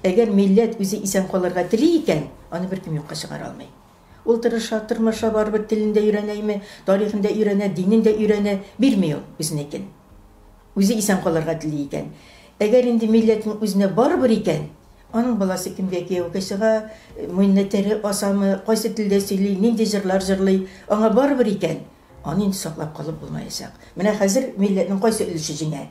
Әгәр милләт үзе исән калырга тели икән, аны беркем юкка чыгара алмый. Ул тырыша, тырмаша, барыбер телен дә өйрәнәйме, тарихын да өйрәнә, динен дә өйрәнә, бирми ул үзенекен. Үзе исән калырга тели икән. Әгәр инде милләтнең үзенә барыбер икән, аның баласы кемгә кияүгә чыга, муенына тәре асамы, кайсы телдә сөйли, нинди җырлар җырлый, аңа барыбер икән, аны инде саклап калып булмаячак. Менә хәзер милләтнең кайсы өлеше җиңә?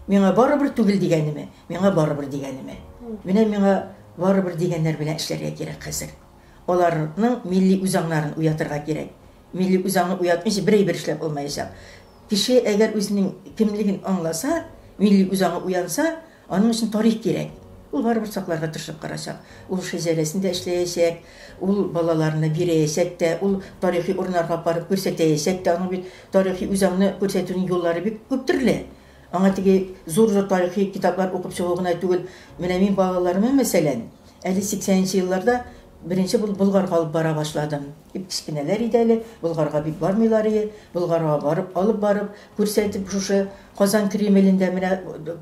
Миңа барыбер түгел дигәнеме, миңа барыбер дигәнеме? Менә миңа барыбер дигәннәр белән эшләргә кирәк хәзер. аларның милли үзаңнарын уятырга кирәк. Милли үзаңны уятмыйча бер әйбер эшләп булмаячак. Кеше әгәр үзенең кемлеген аңласа, милли үзаңы уянса, аның өчен тарих кирәк. Ул барыбер сакларга тырышып карачак. Ул шәҗәрәсендә эшләячәк, ул балаларына бирәячәк тә, ул тарихи урыннарга апарып күрсәтәячәк тә. Аның бит тарихи үзаңны күрсәтүнең юллары бик күп төрле. Аңа теге зур-зур тарихи китаплар укып чыгу гына түгел, менә мин балаларыма, мәсәлән, әле сиксәненче елларда беренче булып Болгарга алып бара башладым. Бик кечкенәләр иде әле, Болгарга бик бармыйлар ие, Болгарга барып, алып барып, күрсәтеп, шушы Казан Кремлендә менә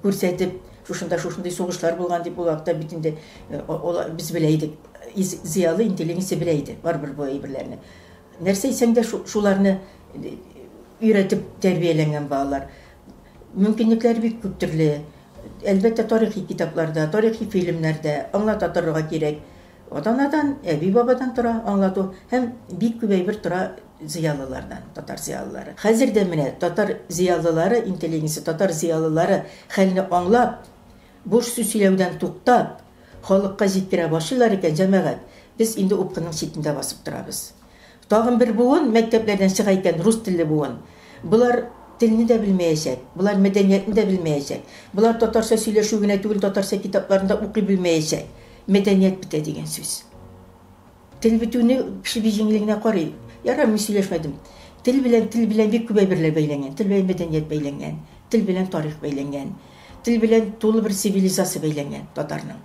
күрсәтеп, шушында шушындый сугышлар булган дип, ул вакытта бит инде без белә идек, зыялы интеллигенция белә иде барыбер бу әйберләрне. Нәрсә әйтсәң дә, шуларны өйрәтеп тәрбияләнгән балалар. Мөмкинлекләре бик күп төрле. Әлбәттә, тарихи китапларда, тарихи фильмнарда аңлата торырга кирәк. Атанадан, әби-бабадан тора аңлату һәм бик күп әйбер тора зыялылардан, татар зыялылары. Хәзер дә менә татар зыялылары, интеллигенция, татар зыялылары хәлне аңлап, буш сүз сөйләүдән туктап, халыкка җиткерә башлыйлар икән, җәмәгать, без инде упкынның читендә басып торабыз. Тагын бер буын мәктәпләрдән чыга икән, рус телле буын. Болар телне дә белмәячәк, болар мәдәниятне дә белмәячәк. Болар татарча сөйләшү генә түгел, татарча китапларны да укый белмәячәк. Мәдәният бетә дигән сүз. Тел бетүне кеше бик җиңел генә карый. Ярар, мин сөйләшмәдем. Тел белән, тел белән бик күп әйберләр бәйләнгән. Тел белән мәдәният бәйләнгән, тел белән тарих бәйләнгән, тел белән тулы бер цивилизация бәйләнгән татарның.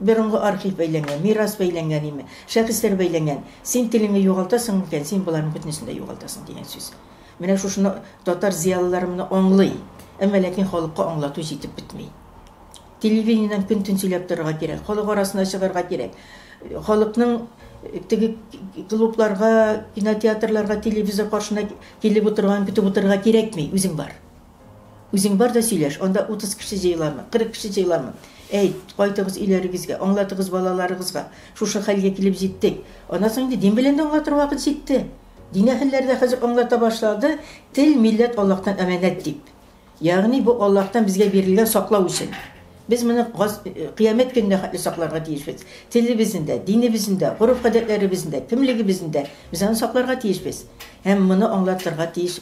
Борынгы архив бәйләнгән, мирас бәйләнгән име, шәхесләр бәйләнгән. Син телеңне югалтасың микән, син боларның бөтенесен дә югалтасың, дигән сүз. Менә шушыны татар зыялылары моны аңлый, әмма ләкин халыкка аңлату җитеп бетми. Телевидениедән көн-төн сөйләп торырга кирәк, халык арасына чыгарга кирәк. Халыкның теге клубларга, кинотеатрларга, телевизор каршына килеп утырганын көтеп утырырга кирәкми, үзең бар. Үзең бар да сөйләш, анда утыз кеше җыеламы, кырык кеше җыеламы? Әйт, кайтыгыз өйләрегезгә, аңлатыгыз балаларыгызга, шушы хәлгә килеп җиттек. Аннан соң инде дин белән дә аңлатыр вакыт җитте. Дин әһелләре дә хәзер аңлата башлады, тел, милләт Аллаһтан әманәт дип. Ягъни бу Аллаһтан безгә бирелгән саклау өчен. Без моны кыямәт көненә хәтле сакларга тиешбез. Телебезне дә, динебезне дә, гореф-гадәтләребезне дә, кемлегебезне дә без аны сакларга тиешбез һәм моны аңлатырга тиеш.